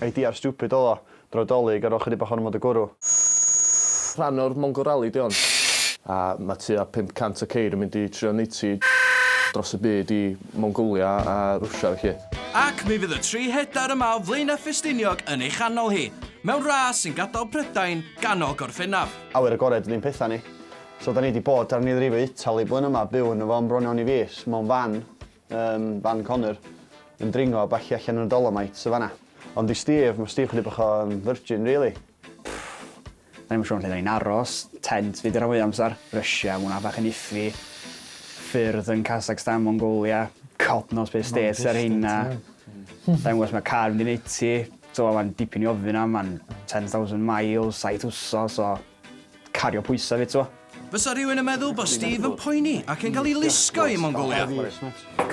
Ei diar stupid oedd o. Droi Dolig ar ol chydig bach ohono fo dy gwrw. Rhan o'r Mongol Rally di hon. A ma tua 500 o ceir yn mynd i trio neiti dros y byd i Mongolia a Rwsia felly. Ac mi fydd y tri hedair yma o Flaenau Ffestiniog yn ei chanol hi, mewn ras sy'n gadael Prydain ganol gorffennaf. Awyr agored ydi'n petha ni. So da ni di bod ar nilrifo Itali blwyddyn yma, byw yno fo am bron iawn i fis, mewn fan. Yym, fan Connor yn dringo a ballu allan yn y Dolomites yn fan'na. Ond i Steve, ma' Steve chydig bach o yym virgin rili. Pff, 'dan ni'm yn siŵr lle 'dan ni'n aros, tent fi 'di rhan fwya amsar, Russia, ma' wnna bach yn iffy, ffyrdd yn Kazakstan, Mongolia, God knows be' states ar rheina. Sai'n gwbo os ma' car mynd i neud ti, t'mo' ma'n dipyn i ofyn am, ma'n ten thousand miles, saith wsos o Cario pwysau fi t'mo. Bysa rhywun yn meddwl bod Steve yn poeni ac yn cael ei lusgo i Mongolia.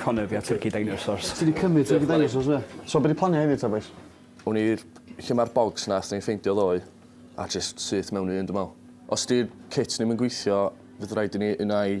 Connor fi a Turkey Dinosaurs. Ti 'di cymryd Turkey Dinosaurs do? So be' 'di planiau heddiw ta bois? Wn i lle ma'r bogs nath ni ffeindio ddoe a jyst syth mewn i un dwi me'wl. Os 'di'r kit ddim yn gweithio fydd raid i ni unai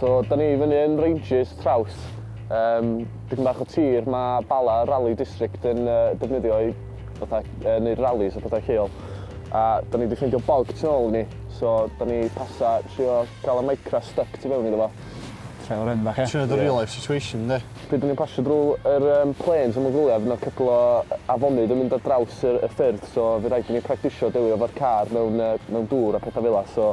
So, da ni fyny yn Ranges, Traws. Um, dipyn bach o tir, mae Bala Rally District yn uh, defnyddio i fatha, uh, neud rallies a pethau lleol. A da ni wedi ffeindio bog tu ôl ni, so da ni pasa trio cael y micra stuck tu fewn iddo fo. Trail o'r enw bach, e? Trio dy real life situation, de. Pryd da ni'n pasio drwy yr um, planes am y gwyliau, fydd yna cwpl o afonydd yn mynd ar draws y, y ffyrdd, so fe rhaid i ni practisio delio efo'r car mewn, uh, mewn dŵr a pethau fel so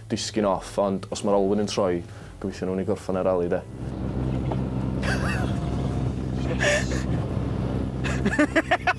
Disgyn off, ond os mae'r olwyn yn troi, gobeithio nawn ni gorffan y rali, de.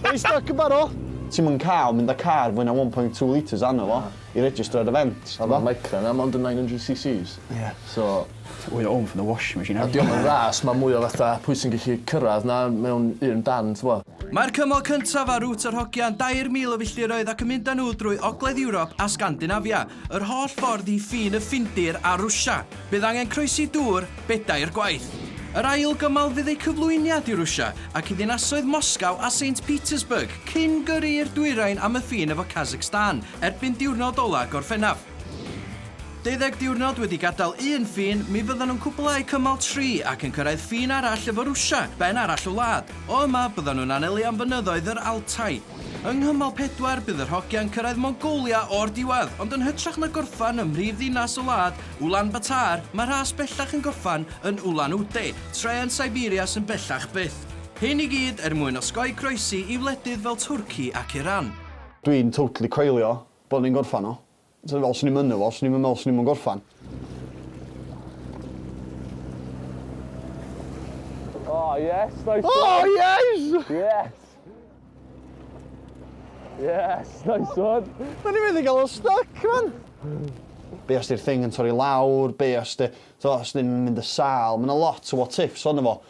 Are you stuck yn barod? Ti'm yn cael mynd â car fwy na one point two litres arno fo i registro ar y vent, ti'n gwbod? Ma'r Micra 'na mond yn 900cc's. Ie. So... It's way home from the washing machine. A 'di o'm yn ras, ma' mwy o fatha pwy sy'n gallu cyrradd 'na mewn un dan, t'bo'? Mae'r cymal cyntaf ar Route yr Hogia'n 2,000 o filltiroedd ac yn mynd â nhw drwy Ogledd Ewrop a Sgandinafia, yr holl ffordd i ffin y Ffindir a Rwsia. Bydd angen croesi dŵr bedair gwaith. Yr ail gymal fydd eu cyflwyniad i Rwsia ac i ddinasoedd Moscow a Saint Petersburg cyn gyrru i'r dwyrain am y ffin efo Kazakhstan erbyn diwrnod ola' Gorffennaf. Deuddeg diwrnod wedi gadael un ffin, mi fyddan nhw'n cwblhau cymal tri ac yn cyrraedd ffin arall efo Rwsia, ben arall y wlad. O yma, byddan nhw'n anelu am fynyddoedd yr Altai. Yng nghymal pedwar, bydd yr hogiau'n cyrraedd Mongolia o'r diwedd, ond yn hytrach na gorffen ym mhrif ddinas y wlad, Ulaanbaatar, mae rhas bellach yn gorffen yn Ulan-Ude, tre yn Siberia sy'n bellach byth. Hyn i gyd er mwyn osgoi croesi i wledydd fel Twrci ac Iran. Dwi'n totally coelio Bod ni'n gorffan o. Ti'n gwbod, os o'n i'm yno fo, swn i'm yn meddwl swn i'm yn gorffan. Oh, yes, nice oh, one. Oh, yes! Yes! Yes, nice one. Mae'n i fynd i gael o stuck, man. Be os di'r thing yn torri lawr, be os di... So, os di'n mynd y sal, mae'n a lot o what ifs o'n efo.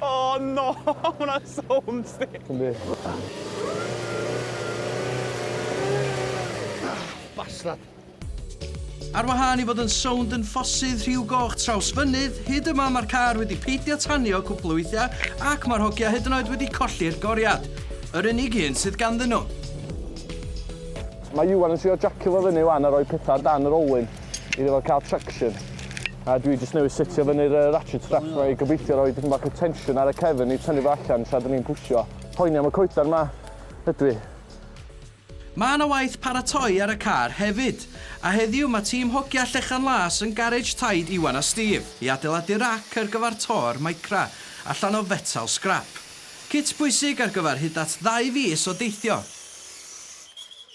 Oh no, hwnna'n so homesick. Yndi. Ah, bastard. Ar wahân i fod yn sownd yn ffosydd rhiw goch traws fynydd, hyd yma mae'r car wedi peidio tanio cwpl o weithiau ac mae'r hogia hyd yn oed wedi colli'r goriad. Yr unig un sydd ganddyn nhw. Mae Iwan yn trio jacio fo fyny wan a rhoi pethau dan yr olwyn. iddo fo cael traction. A dwi jyst newydd setio fyny'r uh, ratchet straps yma i gobeithio roi dipyn bach o tension ar y cefn i tynnu fo allan tra dyn ni'n pwysio. Poeni am y coetar ma, ydw i. Mae yna waith paratoi ar y car hefyd, a heddiw mae tîm hogia Llechan Las yn garej taid Iwan a Steve i adeiladu rac ar gyfer tor Micra allan o fetal sgrap. Cit bwysig ar gyfer hyd at ddau fis o deithio.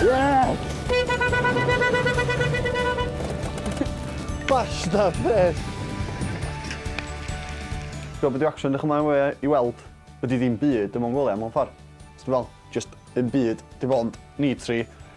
Yes! Basta peth! Gwybod beth dwi actually yn edrych ymlaen fwy i weld ydy ddim byd dim ond gwyliau mewn ffordd. Os ti'n meddwl, jyst un byd, dim ond ni tri.